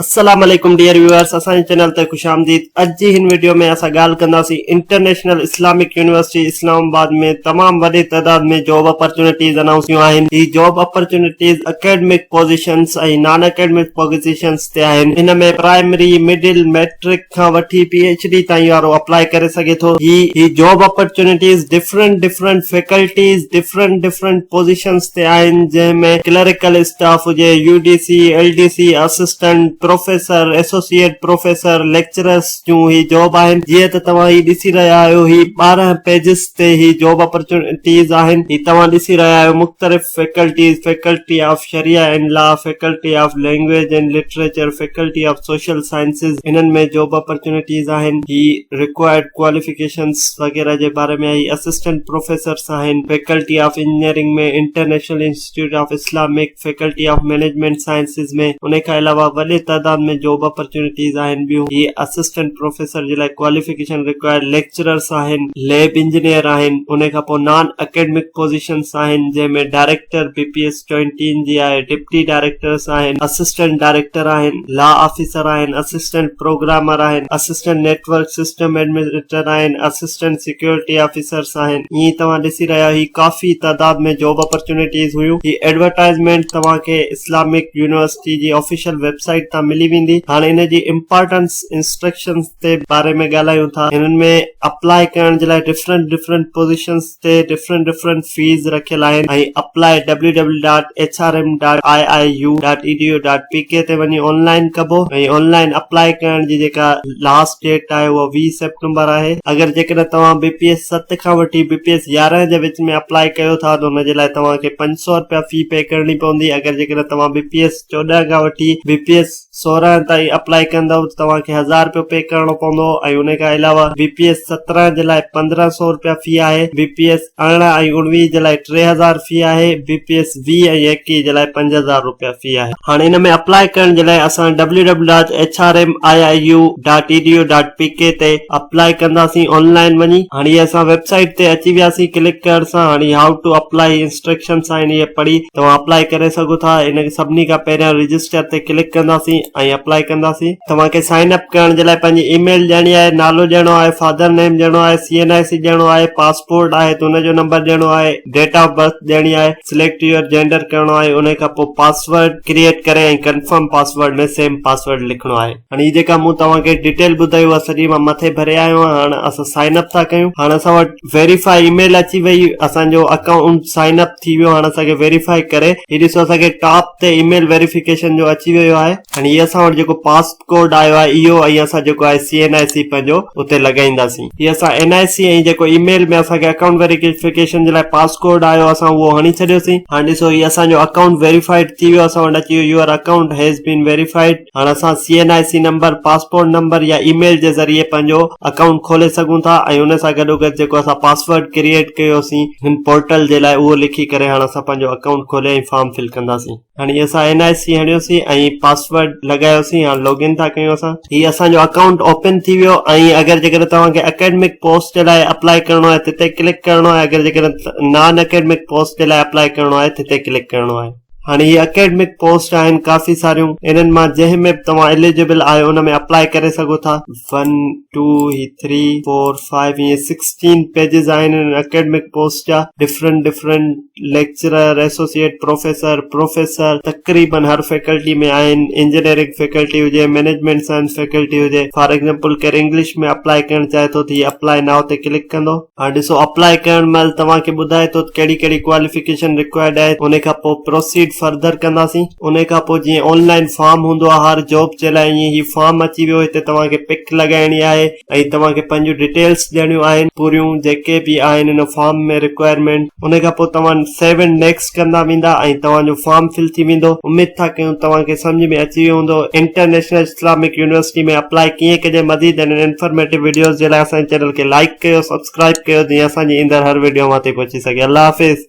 السلام عليڪم dear viewers اسان جي چينل تي خوش آمديد اڄ جي هن ويڊيو ۾ اسان ڳالهه ڪنداسين international Islamic university Islamabad ۾ تمام وڏي تعداد ۾ جاب اپرچونٽيز انائونس ٿيون آهن هي job opportunities academic positions ۽ non academic positions تي آهن ان ۾ پرائمري مڊل ميٽرڪ کان وٺي پي ايڇ ڊي تائين وارو اپلائي ڪري سگهي ٿو هي هي job opportunities different different faculties different different positions تي آهن جنهن ۾ ڪلريڪل اسٽاف هجي U D C L D C assistant professor associate professor lecturers جون هي جاب آهن جيئن ته توهان هي ڏسي رهيا آهيو هي ٻارهن پيجز تي هي جاب اپرچونٽيز آهن هي توهان ڏسي رهيا آهيو مختلف faculties faculty of Sharia and law faculty of language and literature faculty of social sciences انهن ۾ جاب اپرچونٽيز آهن هي ريڪوائرڊ ڪواليفڪيشنز وغيره جي باري ۾ آهي اسسٽنٽ پروفيسرس آهن faculty of engineering ۾ international institute of Islamic faculty of management sciences ۾ انهي کان علاوه وڏي تعداد ۾ جاب اپرچونٽيز آهن ٻيون هي اسسٽنٽ پروفيسر جي لاء ڪواليفڪيشن رڪوائرڊ ليڪچررس آهن ليب انجنيئر آهن انهي کان پوء نان اڪيڊمڪ پوزيشنس آهن جنهن ۾ ڊائريڪٽر بي پي ايس چوئنٽين جي آهي ڊپٽي ڊائريڪٽرس آهن اسسٽنٽ ڊائريڪٽر آهن لا آفيسر آهن، اسسٽنٽ پروگرامر آهن، assistant network system administrator آهن، اسسٽنٽ سيڪيورٽي آفيسرس آهن، ائين ئي توهان ڏسي رهيا آهيو هي ڪافي تعداد ۾ جاب اپرچونيٽيز هيون، هي ايڊورٽائزمينٽ توهان کي اسلامڪ يونيورسٽي جي آفيشل ويب سائيٽ تان ملي ويندي. هاڻي ان جي امپارٽنس انسٽرڪشنس تي باري ۾ ڳالهايون ٿا، هنن ۾ اپلائي ڪرڻ جي لاء ڊفرنٽ ڊفرنٽ پوزيشنس، تي ڊفرنٽ ڊفرنٽ فيز رکيل آهن ۽ apply W W dot H R M dot I I U dot E D U dot P K تي وڃي آن لائين ڪبو ۽ آن لائين اپلاء ڪرڻ جي جيڪا لاسٽ ڊيٽ آهي اها ويهه سيپٽمبر آهي اگر جيڪڏهن توهان بي پي ايس ست کان وٺي بي پي ايس يارهن جي وچ ۾ اپلاء ڪيو ٿا ته ان جي لاء توهان کي پنج سؤ رپيا في پي ڪرڻي پوندي اگر جيڪڏهن توهان بي پي ايس چوڏهن کان وٺي بي پي ايس سورهن تائين اپلائي ڪندؤ ته توهان کي هزار رپيو پي ڪرڻو پوندو ۽ انهي کان علاوه بي پي ايس سترهن جي لاء پندرهن سؤ رپيا في آهي، بي پي ايس ارڙهن ۽ اڻويهه جي لاء ٽي هزار في آهي، بي پي ايس ويهه ۽ ايڪيهه جي لاء پنج هزار رپيا في آهي. هاڻ ان ۾ اپلائي ڪرڻ جي لاء اسان W W dot H R M I I U dot E D U dot P K تي اپلائي ڪنداسين آن لائين وڃي هاڻ هي اسان ويب سائيٽ تي اچي وياسين ڪلڪ ڪرڻ سان هاڻ هي هائو ٽو اپلائي انسٽرڪشنس آهن اهي پڙهي توهان اپلائي ڪري سگهو ٿا ان کي سڀني کان پهريان رجسٽر تي ڪلڪ ڪنداسين ۽ اپلائي ڪنداسين توهان کي سائن اپ ڪرڻ جي لاء پنهنجي اي ميل ڏيڻي آهي نالو ڏيڻو آهي فادر نيم ڏيڻو آهي سي اين آء سي ڏيڻو آهي پاسپورٽ آهي ته ان جو نمبر ڏيڻو آهي ڊيٽ آف برٿ ڏيڻي آهي سليڪٽ يور جينڊر ڪرڻو آهي ان کان پوء پاسورڊ ڪريئيٽ ڪري ۽ ڪنفرم پاسورڊ ۾ سيم پاسورڊ لکڻو آهي هاڻي هي جيڪا مون توهان کي ڊيٽيل ٻڌائي اها سڄي مان مٿي ڀري آيو آهيان هاڻ اسان سائن اپ ٿا ڪيون هاڻ اسان وٽ ويريفاء اي ميل اچي وئي اسان جو اڪائونٽ سائن اپ ٿي ويو هاڻ اسان کي ويريفاء ڪري هي ڏسو اسان کي ٽاپ تي اي ميل ويريفڪيشن جو اچي ويو آهي هاڻ هي اسان وٽ جيڪو پاسپ ڪورڊ آيو آهي اهو ۽ اسان جيڪو آهي سي اين آء سي پنهنجو اتي لڳائينداسين هي اسان اين آء سي ۽ جيڪو اي ميل ۾ اسان کي اڪائونٽ ويريفڪيشن جي لاء پاس ڪورڊ آيو اسان اهو هڻي ڇڏيوسين هاڻ ڏسو هي اسان جو اڪائونٽ ويريفائيڊ ٿي ويو اسان وٽ اچي ويو your account has been verified هاڻ اسان C N I C number, passport number يا اي ميل جي ذريعي پنهنجو اڪائونٽ کولي سگهون ٿا ۽ ان سان گڏوگڏ جيڪو اسان پاسورڊ ڪريئيٽ ڪيو سين هن پورٽل جي لاء اهو لکي ڪري هاڻ اسان پنهنجو اڪائونٽ کولي ۽ فارم فل ڪنداسين. هاڻي اسان اين آء سي هڻيو سين ۽ پاسورڊ لڳايو سين هاڻ لاگ ان ٿا ڪيون اسان. هي اسان جو اڪائونٽ اوپن ٿي ويو ۽ اگر جيڪڏهن توهان کي اڪيڊمڪ پوسٽ جي لاء اپلائي ڪرڻو آهي تي تي ڪلڪ ڪرڻو آهي اگر جيڪڏهن نان اڪيڊمڪ پوسٽ جي لاء اپلائي ڪرڻو آهي تي تي ڪلڪ ڪرڻو آهي. هاڻي هي اڪيڊمڪ پوسٽ آهن ڪافي ساريون انهن مان جنهن ۾ به توهان اليجبل آهيو ان ۾ اپلائي ڪري سگهو ٿا ون ٽو هي ٿري فور فائيو هيئن سڪسٽين پيجز آهن انهن اڪيڊمڪ پوسٽ جا different different lecturer associate professor professor تقريبن هر فيڪلٽي ۾ آهن انجنيئرنگ فيڪلٽي هجي مئنيجمينٽ سائنس فيڪلٽي هجي فار ايگزامپل ڪير انگلش ۾ اپلائي ڪرڻ چاهي ٿو ته هي اپلائي نائو تي ڪلڪ ڪندو هاڻي ڏسو اپلاء ڪرڻ مهل توهان کي ٻڌائي ٿو ته ڪهڙي ڪهڙي ڪواليفڪيشن رڪوائرڊ آهي ان کان پوء پروسيڊ فرڌر ڪنداسين ان کان پوء جيئن آن لائن فارم هوندو آهي هر جاب جي لاء ائين هي فارم اچي ويو هتي توهان کي پڪ لڳائڻي آهي ۽ توهان کي پنهنجون ڊيٽيلس ڏيڻيون آهن پوريون جيڪي به آهن ان فارم ۾ رڪوائرمينٽ ان کان پوء توهان سيو اينڊ نيڪسٽ ڪندا ويندا ۽ توهان جو فارم فل ٿي ويندو اميد ٿا ڪيون توهان کي سمجهه ۾ اچي ويو هوندو انٽرنيشنل اسلامڪ يونيورسٽي ۾ اپلائي ڪيئن ڪجي مزيد اهڙين انفارميٽو وڊيوز جي لاء اسان جي چينل کي لائڪ ڪيو سبسڪرائب ڪيو جيئن اسان جي ايندڙ هر وڊيو اوهان تائين پهچي سگهي الله حافظ